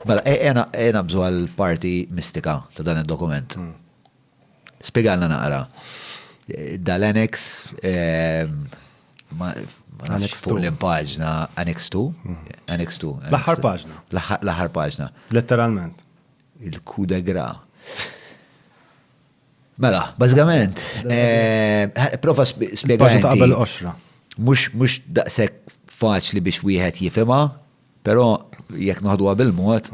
Mela, ejja naqbżu għall-parti mistika ta' dan id-dokument. Spjegalna naqra. Dal-annex, ma nafx fuq l-impaġna, annex 2? Annex 2. L-aħħar paġna. L-aħħar paġna. Letteralment. Il-coup de grace. Mela, bażikament, prova spjegajna. Paġna ta' qabel 10. Mhux daqshekk faċli biex wieħed jifhimha, Però jekk noħduha bil-mod,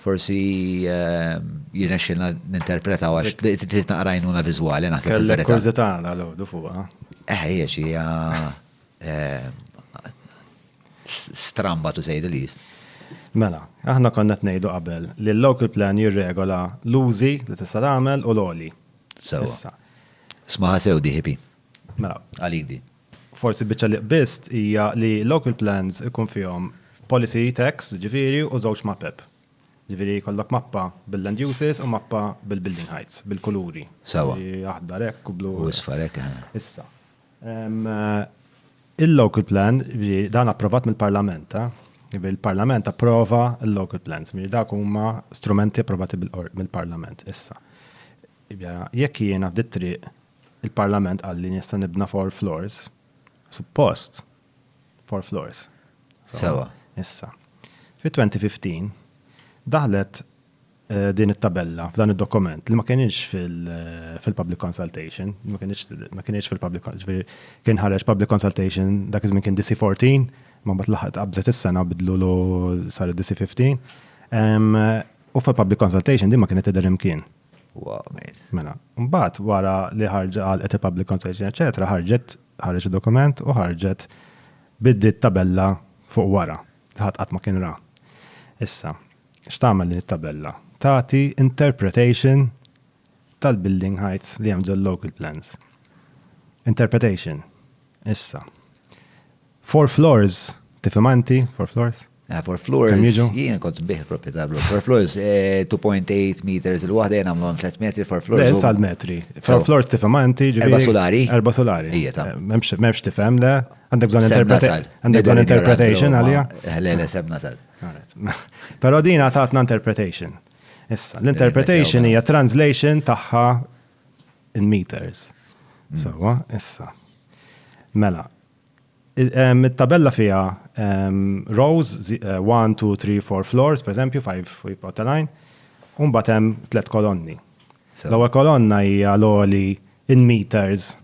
forsi jirnexxilna ninterpretaw għax trid naqra għajnuna viżwali naħseb il-verità. Kellek kurżità dal-għodu fuqha. Eh, hija xi hija stramba to say the least. Mela, aħna konna qed ngħidu qabel li l-local plan jirregola l-użi li tista' tagħmel u l-għoli. Sewwa. Ismaha sew di ħipi. Mela. Għalik di. Forsi l-biċċa li qbist hija li local plans ikun fihom policy tax, jiġifieri, u żewġ mapep. Jiġifieri jkollok mappa bil-land uses u mappa bil-building heights, bil-kuluri. Sewwa. Aħdar hekk u blu. U isfar hekk, eħe. Issa, il-local plan, jiġifieri dan approvat mill-Parlament, eh? Jiġifieri l-Parlament approva l-local plans, jiġifieri dawk huma strumenti approvati mill-Parlament. Issa, jiġifieri jekk jiena f'dit-triq Il-Parlament qal li nista' nibna four floors. Suppost. Four floors. Sewa. Issa. Fit-2015 daħlet eh, din it-tabella f'dan id-dokument li ma kienx eh, fil-public consultation, ma kienx fil-public ġifieri kien ħareġ public consultation dak iż-żmien kien DC14, ma mbagħad laħaq qabżet is-sena bidlu lu sar DC15. U fil-public consultation din ma kienet tidher imkien. Wow, mate. Mela, mbagħad wara li ħarġ għalqet il-public consultation, eċetera, ħarġet ħarġ dokument u ħarġet biddiet tabella fuq wara li ħadd qatt ma kien ra. Issa, x'tagħmel din it-tabella? Tagħti interpretation tal-building heights li hemm ġol-local plans. Interpretation. Issa. Four floors, tifhimha inti, four floors? Ah, four floors, jien kont nbih il-proprjetà blu. Four floors, 2.8 eh, meters il-waħda jien għamlu 3 metri, four floors. Le, sal metri. Four floors tifhem anti, ġifieri. Erba solari. Erba solari. Ija ta. Memx eh, tifhem le, għandek bżon interpretation. Għandek bżon interpretation għalija. Eh, le, le, sem nasal. Pero din għatatna interpretation. Issa, l-interpretation hija translation tagħha in meters. Mm. Sawa, issa. Mela, It-tabella fiha rows, one, two, three, four floors, per eżempju, five feet of the line, u mbagħad hemm tliet kolonni. L-ewwel kolonna hija l-għoli in meters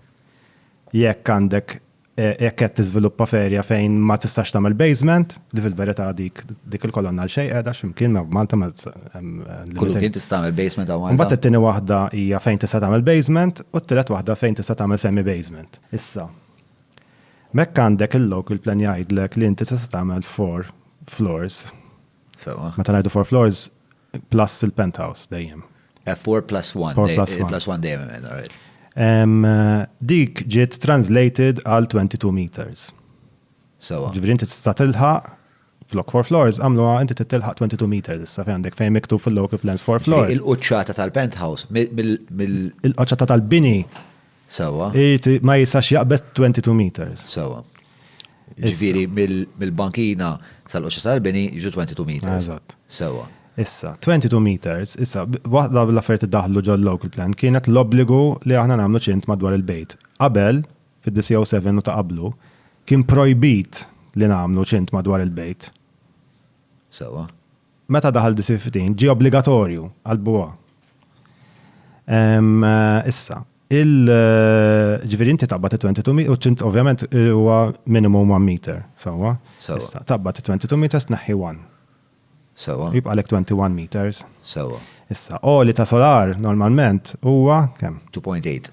jekk għandek jekk qed tiżviluppa f'area fejn ma tistax tagħmel basement, li fil-verità dik dik il-kolonna għal xejn qiegħda x'imkien ma b'Malta ma Kull imkien tista' tagħmel basement hawn Malta. Mbagħad it-tieni waħda hija fejn tista' tagħmel basement u t-tielet waħda fejn tista' tagħmel semi basement. Issa, M'hekk għandek il-local plan jgħidlek li inti tista' tagħmel four floors. Sewwa. Meta ngħidu four floors, plus il-penthouse dejjem. Eh, four plus one. Four plus one. Plus one dejjem hemm, all right. Dik ġiet translated għal 22 meters. Sewwa. Ġifieri inti tista' tilħaq Flok for floors, għamluha inti titilħaq 22 meters issa fejn għandek fejn miktub fil-local plans for floors. Il-quċċata tal-penthouse mill. Il-quċċata tal-bini. Sewa. Ma jistax jaqbes 22 meters. Sewa. Ġifieri mill-bankina sal-quċċata tal-bini jiġu 22 meters. Eżatt. Sewa. Issa, 22 meters, issa, waħda l-affarijiet daħlu ġol local plan kienet l-obbligu li aħna nagħmlu ċint madwar il-bejt. Qabel, fid-1907 u ta' qablu, kien projbit li nagħmlu ċint madwar il-bejt. Sewwa. Meta daħal 1930, ġie obbligatorju għall-bwa. Issa, ġifieri inti taqbad it-22 meters u ċint ovvjament huwa minimum one meter, sewwa? Sewwa. Issa, taqbad it-22 meters tneħħi one. Sewwa. Jibqgħalek 21 meters. Sewwa. Issa, għoli ta' solar normalment huwa kemm? 2.8.